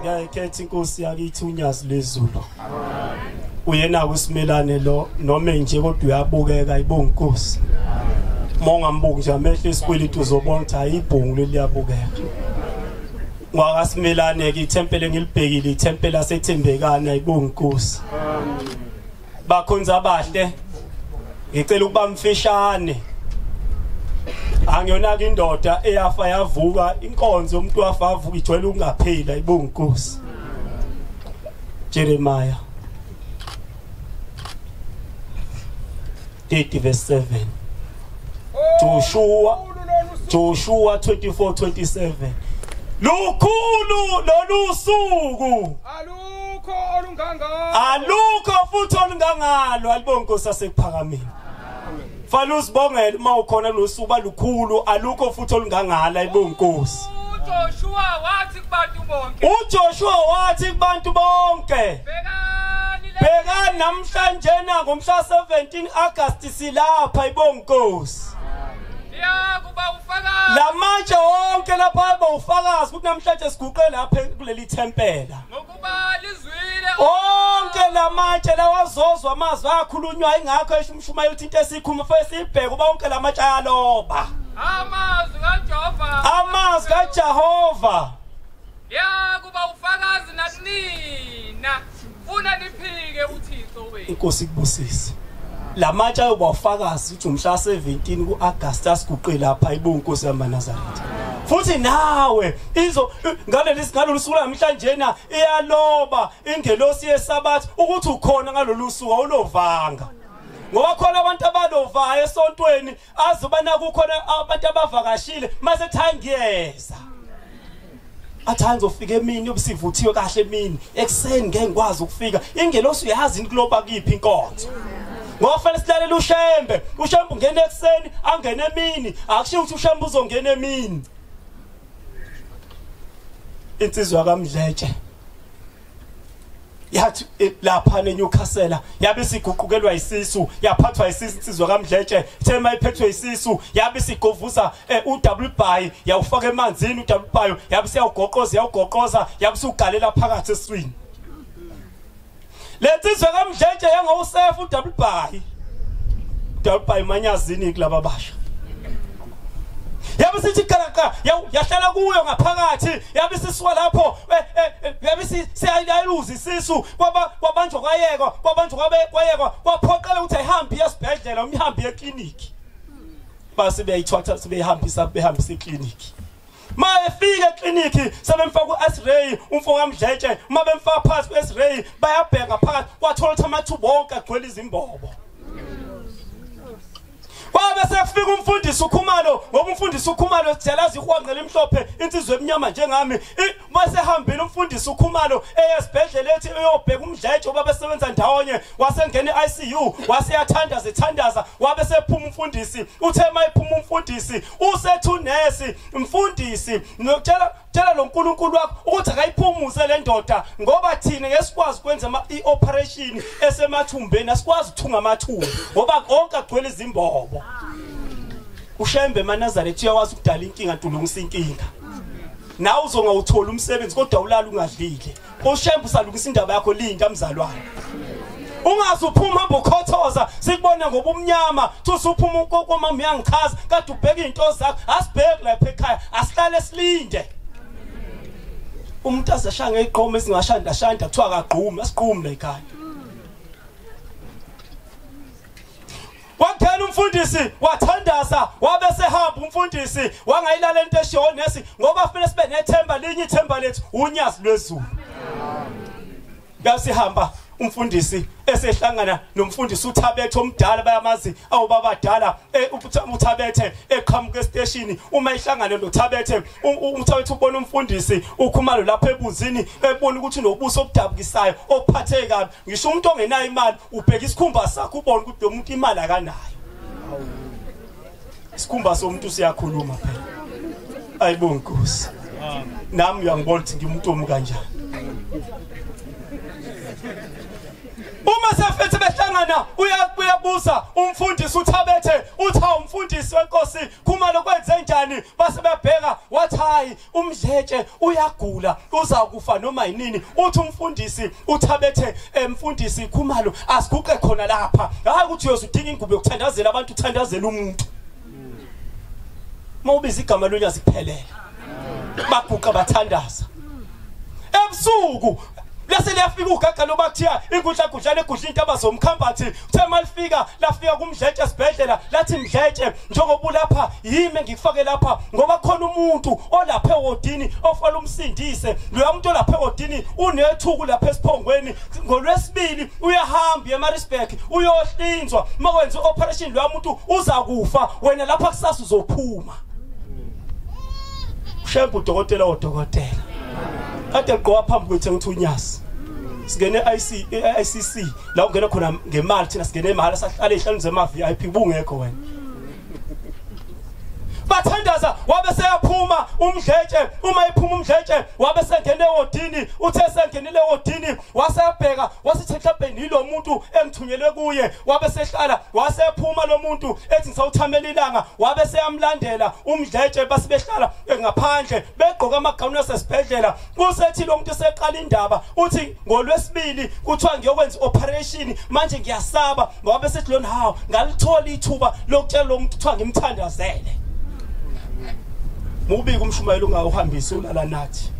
ngiyayikhetha inkosi yakithi unyazi lwezulu uyena kusimelane lo noma nje kodwa uyabukeka ibonga inkosi uma ungambuki nje amehlo esikweleti uzobona ukuthi hayi ibhungu leliyabukeka ngwakasimelane-ke ithempele ngilibhekile ithempele asethembekane ayibonga inkosi bakhonza abahle ngicela ukuba mfishane angiyona ke indoda eyafa yavuka inkonzo umuntu wafa avuka ijwayele ukungaphila ibungukusi Jeremiah 30 verse 7 Joshua Joshua 24:27 Lukhulu lolu suku alukho olungangalo alukho futhi olungangalo alibonke Nkosi asekuphakameni Fana usibongele uma ukhona losuku balukhulu alukho futhi olungangala ibonkosi Joshua wathi uJoshua wathi kubantu bonke bhekani namhlanje na ngomhla 17 August silapha ibonkosi lamatshe wonke lapha eba ufakazi ukuthi namhlanje siguqe lapha kuleli thempela onke lamatshe lawazozwa amazwi akhulunywa ingakho esho umshumayeli uthi into esikhuma fo esibheke uba onke lamatshe ayaloba amazwi kajehova amazwi kajehova ya kuba ufakazi nakunina funa niphike uthixo inkosi ikubusise lamatshe ayoba ufakazi ukuthi umhla 17 kuAugust asiguqe lapha ibonkosi yamaNazaretha futhi nawe izo ngaleli ngalolu suku namhlanje na iyaloba ingelosi yesabathi ukuthi ukhona ngalolu suku awulovanga ngoba khona abantu abalovayo esontweni azi ubana kukhona abantu abavakashile mase thangiyeza athanda ufika emini obusivuthiwe kahle emini ekseni ngeke ngikwazi ukufika ingelosi uyazi into kuloba kiphi inkonzo ngoba fanele silalele ushembe ushembe ungena ekseni angene emini akushiyo ukuthi ushembe uzongena emini insizwa kamdletshe yathi eh, lapha neNewcastle yabe siguqukelwa isisu yaphathwa isisu insizwa kaMdletshe ithe mayiphethwe isisu yabe sigovuza eh, uDouble Bay yawufaka emanzini uDouble Bay yabe siyawugoqoza yawugoqoza yabe sugalela phakathi eswini Lensizwa kaMdletshe yangowusefu uDouble Bay Double Bay manyazini kulaba basha yabe sithi qalaqa yahlala kuyo ngaphakathi yabe sisuka lapho Eh, eh, eh, yabe siyayiluza isisu kwabanjwa kwayekwa kwabanjwa kwayekwa kwaphoqela ukuthi ayihambe iyesibhedlela umyihambe eklinikhi base beyayithwatha sebeyihambisa behambisa eklinikhi ma efika eklinikhi sebemfaka u-x-ray umfokamdletshe uma bemfaka phakathi ku-x-ray bayabheka phakathi kwathola ukuthi amathuba onke agcwele izimbobo Kwabe sekufika umfundisi uKhumalo ngoba umfundisi uKhumalo sijalaza ihwanqa elimhlophe insizwe emnyama njengami bese hambile umfundisi uKhumalo eyesibhedlela ethi uyobheka umdletshe oba besebenza ndawonye wasengena iICU waseyathanda zithandaza wabe sephuma umfundisi uthe mayiphuma umfundisi usethu nesi mfundisi ngicela tshela lo nkulunkulu wakho ukuthi akayiphumuze le ndoda ngoba thina ngesikwazi ukwenza i-operation esemathumbeni asikwazi ukuthunga amathumbu ngoba konke agcwele izimbobo ushembe emanazaretha uyawazi ukudala inkinga ntulungisa inkinga nawe uzongawutholi umsebenzi kodwa ulala ungadlile ushembu salukisa indaba yakho linda mzalwane ungaze uphuma hamba ukhothoza sikubona ngoba umnyama thusa uphuma ukokomama uyangichaza kade ubheka iy'nto zakho asibheki lapha ekhaya asihlale silinde umuntu azashaya ngeqoma esingashanda shanda kuthiwa akagqumi asigqumi la ekhaya Kwakhela umfundisi wathandaza wabe sehamba umfundisi wangayilala into eshiwo nesi ngoba fanele sibe nethemba linye ithemba lethu unyazi lwezulu. Ngasihamba umfundisi esehlangana nomfundisi uThabethe omdala bayamazi awubaba dala e, uThabethe eqhamuka esteshini uma ihlangane noThabethe uThabethe ubona umfundisi ukhumalo lapha ebunzini ebona ukuthi nobuso obudabukisayo ophatheke kabi ngisho umuntu ongenayo imali ubheka isikhumba sakho ubone ukuthi lo muntu imali akanayo isikhumba somuntu siyakhuluma phela ayibo nkosi nami uyangibona ukuthi ngimuntu omu kanjani uma sefethe behlangana uyabuza umfundisi uthabethe uthi hawu mfundisi wenkosi khumalo kwenze njani base bebheka wathi hayi umdletshe uyagula uzakufa noma yinini uthi umfundisi uthabethe emfundisi eh, ikhumalo asiguqe khona lapha hayi ukuthi uyoze udinga ingubo yokuthandazela abantu uthandazela umuntu uma ubiza igama lonyazi kuphelela baguqa bathandaza ebusuku lase liyafika ugaga loba kuthiya inkundla gudlana egudla intaba zomkhambathi uthe malifika lafika kumdletshe esibhedlela lathi mdletshe njengoba ulapha yimi engikufake lapha ngoba khona umuntu olapha ewodini ofala umsindise loya muntu olapha ewodini unethuku lapha esiphongweni ngolwesibili uyahamba emarisburg uyohlinzwa uma wenza i-operation loya muntu uza kufa wena lapha kusasa uzophuma ushembe udokotela wodokotela kade ligqoka phambi kwethu engithunyasi singene IC ICC la ungena khona ngemali thina singene imali sahlale ihlanu zema VIP bungekho wena bathandaza wabe seyaphuma umdletshe uma iphuma umdletshe wabe sengene wodini uthe sengenile wodini wasebheka wasithetha bheni lo muntu engithunyelwe kuye wabe sehlala wasephuma lo muntu ethi ngisawuthamela ilanga wabe seyamlandela umdletshe basibehlala ngaphandle begqoka amagawuni asesibhedlela kusethi lo muntu seqala indaba uthi ngolwesibili kuthiwa ngiyokwenza operation manje ngiyasaba ngoba besethi lona hawu ngalithola ithuba lokutshela lo muntu kuthiwa ngimthandazele mubike umshumayeli ungawuhambisi ulala nathi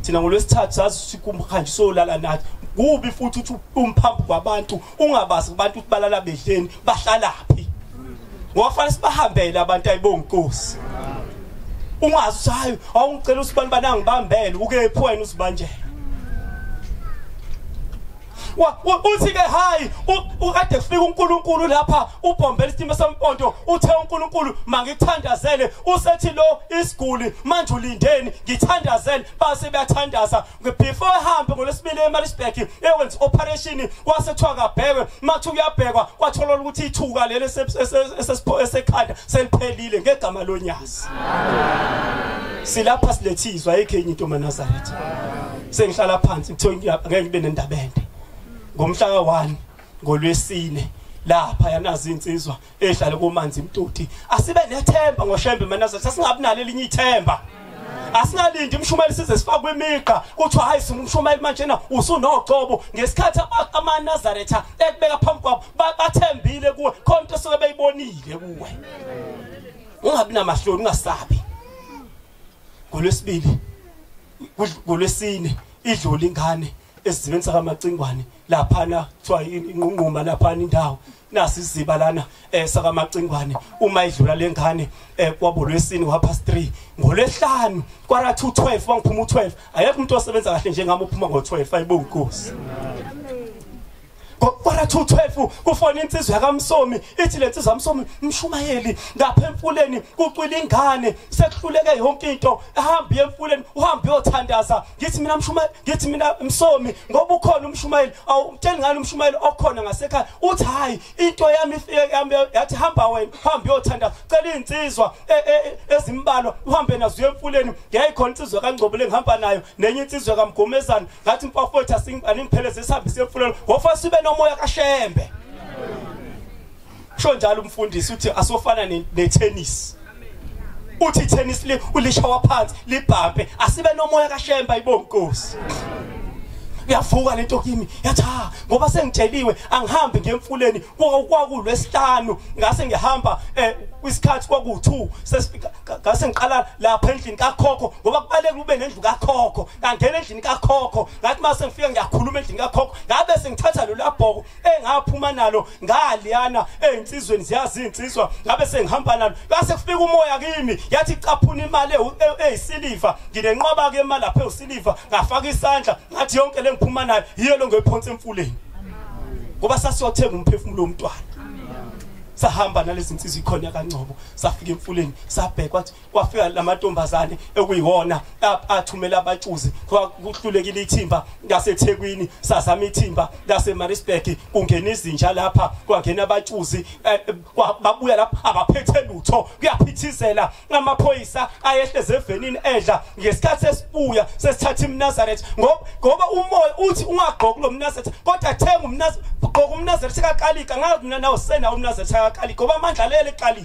thina ngolwesithathu sazi sikumhanjisa olala nathi kubi futhi uthi umphambi kwabantu ungabazi kubantu ukuthi balala bedleni bahlalaphi ngofanele sibahambele abantu ayibonkosi ungazi ukuthi hayi awungicela usibani banangibambele ukephi wena usibanjela uthi ke hayi ukade kufika uNkulunkulu lapha ubhombela isimo sempondo uthe uNkulunkulu mangithandazele usethi lo isiguli manje ulindeni ngithandazele base bayathandaza before ehambe ngolwesibili emaritzburg eyokwenza i-operation kwase kuthiwa kabhekwe mathi uyabhekwa kwatholwa ukuthi ithuka leli esekhanda seliphelile ngegama lonyazi silapha silethizwa ayikho enye into manazaretha sengihlala phansi kuthiwa ngeke ngibe nendaba ende ngomhla ka-one ngolwesine lapha yanazi insizwa ehlale komanzi mtoti asibe nethemba ngoshembe manaza sasingabi nalo elinye ithemba asingalindi umshumeli size sifakwe imigqa kuthiwa hayi singumshumeli manje na usunocobo ngesikhathi amanazaretha ekubeka phambi kwabo bathembile kuwe khona into esuke beyibonile kuwe ungabi namahloni ungasabi ngolwesibili ngolwesine idlula ingane esizibeni sakamacingwane laphana kuthiwa inqunquma laphana indawo nasi isiziba lana eh sakamacingwane uma idlula lengane eh kwabulwesini wapha 3 ngolesihlanu kwara 212 bangiphuma u12 ayekho umuntu osebenza kahle njengami uphuma ngo12 ayibonga inkosi kwara 212 kufona insizwa yakamsomi ithi le nsizwa kamsomi mshumayeli lapha emfuleni kucwila ingane sekuhluleke yonke into ahambe emfuleni uhambe uyothandaza ngithi mina mshumayeli ngithi mina msomi ngoba ukhona umshumayeli awumtsheli ngani umshumayeli okhona ngasekhaya uthi hayi into yami ifike yami yathi hamba wena hamba uyothanda cela insizwa e, e, ezimbalwa uhambe nazo emfuleni ngiyayikhona insizwa kangcobule ngihamba nayo nenye insizwa kamgomezana ngathi mfafowethu asingipheleze sihambise emfuleni ngofa sibe nomoya kashembe Usho njalo umfundisi uthi asofana ne-tennis. Uthi i-tennis le ulishawa phansi libhampe asibe nomoya kaShemba ibonkosi. Uyavuka lento kimi yathi ha ngoba sengitsheliwe angihambi ngemfuleni kwakulwe esihlanu ngase ngihamba eh kwisikhathi kwaku2 sesifika ngase ngiqala lapha endlini kakhokho ngoba kubalekile ube nendlu kakhokho ngangena endlini kakhokho ngathi mase ngifika ngiyakhuluma endlini kakhokho ngabe sengithatha lo labhoko engaphuma nalo ngaliyana ezinsizweni ziyazi izinsizwa ngabe sengihamba nalo base kufika umoya kimi yathi caphuna imali e- eyisiliva nginenqwaba ke imali lapha eyisiliva ngafaka isandla ngathi yonke lengiphuma nayo yiyo lo ngiyophonsa emfuleni ngoba sasiyothenga umphefumulo womntwana sahamba nalezi nsizwa ikhona kaNcobo safika emfuleni sabheka wathi kwafika lamantombazane ekuyiwona athumela abatshuzi kuhlulekile ithimba laseThekwini sazama ithimba laseMaritzburg kungena izinja lapha kwangena abatshuzi eh, eh, babuya lapha abaphethe lutho kuyaphithizela amaphoyisa ayehleze evenini edla ngesikhathi esibuya sesithatha iMnazareth ngoba umoya uthi ungagqoki lo Mnazareth kodwa thenga uMnazareth gqoka uMnazareth kakalika ngazi mina nawo sena uMnazareth kakalika ngoba amandla lele kalika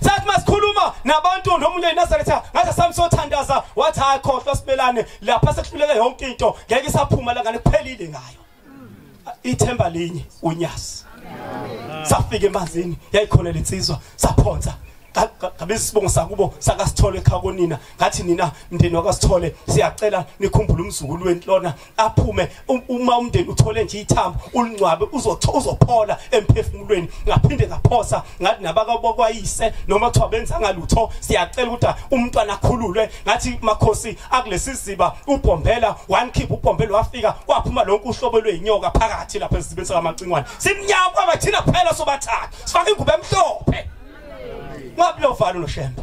sathi masikhuluma nabantu nomunye enazaretha ngathi samsothandaza wathi hayi khohlwa sibelane lapha sekuhluleke yonke into ngeke isaphuma la ngane kuphelile ngayo ithemba linye unyasi safika emanzini yayikhona lensizwa saphonsa ngabe isibongo sakubo sakasithole ekhakonina ngathi nina mndeni wakasithole siyacela nikhumbule umzukulu wenhlona aphume um, uma umndeni uthole nje ithambo ulingcwabe uzotho uzophola emphefumulweni ngaphinde ngaphosa ngathi nabakabokwayise noma kuthiwa benza ngalutho siyacela ukuthi umntwana akhululwe ngathi makhosi akulesi siziba ubhombela one keep ubhombela wafika kwaphuma lonke uhlobo lweinyoka phakathi lapha esizibeni sakamacingwane simnyama kwaba thina phela sobathathu sifaka ingubo emhlophe ngabulo valo noshembe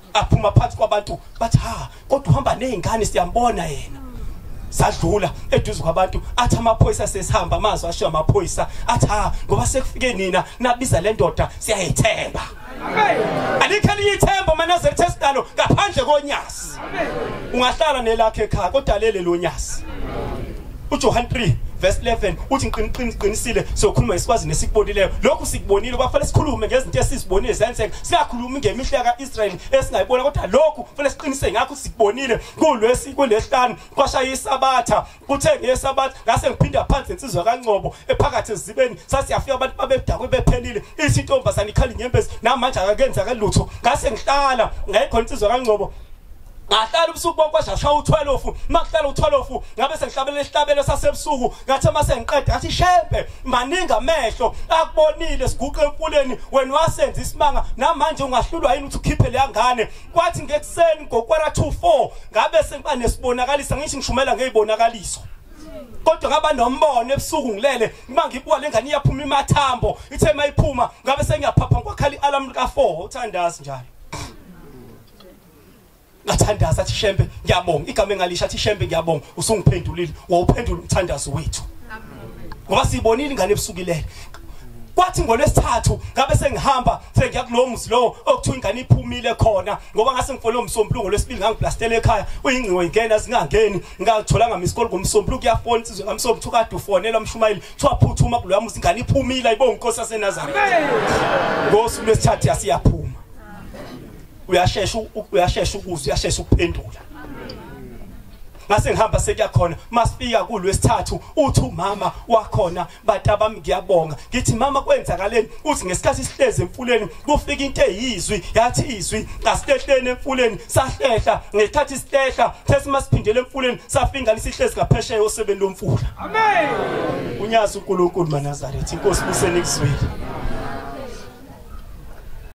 aphuma phansi kwabantu bathi ha kodwa uhamba nezingane siyambona yena sadlula eduze kwabantu athi amaphoyisa sesihamba amazwi ashiya amaphoyisa athi ha ngoba sekufike nina nabiza le ndoda siyayithemba alikho elinye ithemba uma nazelithe sidalo ngaphandle konyasi ungahlala nelakhe ekhaya kodwa lele lo nyasi uJohn 3 verse 11 uthi ngiqinisile sokhuluma ngesikwazi nesikubonileyo lokhu sikubonile kwafanele sikhulume ngezinto esizibonile zenzeka singakhulumi ngemihle kaIsrayeli esingayibona kodwa lokhu kufanele siqinise ngakho sikubonile kulwesi kulehlanu kwashaya isabatha kuthe ngesabatha ngase ngiphinda phansi insizwa kaNcobo ephakathi ezibeni sasiyafika abantu babedakwe bephelile ithi intombazana ikhali nyembezi namanje akakenza kalutho ngase ngihlala ngayikho insizwa kaNcobo ngahlala ubusuku bonke kwashasha u-12 makuhlala u-12 ngabe sengihlabela isihlabelo sasebusuku ngathi uma sengiqeda ngathi shembe maningi amehlo akubonile siguqe emfuleni wena wasenza isimanga namanje ungahlulwa yini ukuthi ukhiphe leya ngane kwathi ngekuseni ngokwara 24 ngabe sengiba nesibonakalisa ngisho ngishumela ngeyibonakaliso kodwa ngaba nombono ebusuku ngilele uma ngibuka lengane iyaphuma imathambo ithe mayiphuma ngabe sengiyaphapha ngokhala i-alarm lika 4 uthandazi njalo ngathandaza athi shembe ngiyabonga igama engalisha athi shembe ngiyabonga usungiphendulile wawuphendula umthandazo wethu ngoba sibonile ingane ebusukilele kwathi ngolwesithathu ngabe sengihamba sengiya kulowo muzi lowo okuthiwa ingane iphumile khona ngoba ngase ngifole umsombuluko ngolwesibili ngangiblastela ekhaya uyingcingo ingena zingangeni ngalitholanga misikole ngomsombuluko kuyafona isizwe kamsombuluko kuthiwa kade ufonela umshumayeli kuthiwa phuthuma kuloya muzi ingane iphumile ayibonga inkosi yasenazareth ngosuku lwesithathu yasiyaphuma uyashesha uyashesha ukuzwa uyashesha ukuphendula ngase ngihamba sekuyakhona masifika kulwesithathu uthi umama wakhona batabami ngiyabonga ngithi mama kwenzakaleni uthi ngesikhathi sihlezi emfuleni kufika into eyizwi yathi izwi asihlehleni emfuleni sahlehla ngesikhathi sihlehla sesimasiphindelela emfuleni safingana sihlezi ngaphesheya osebeni lomfula amen unyazi uNkulunkulu manazaretha inkosi busenikuzwile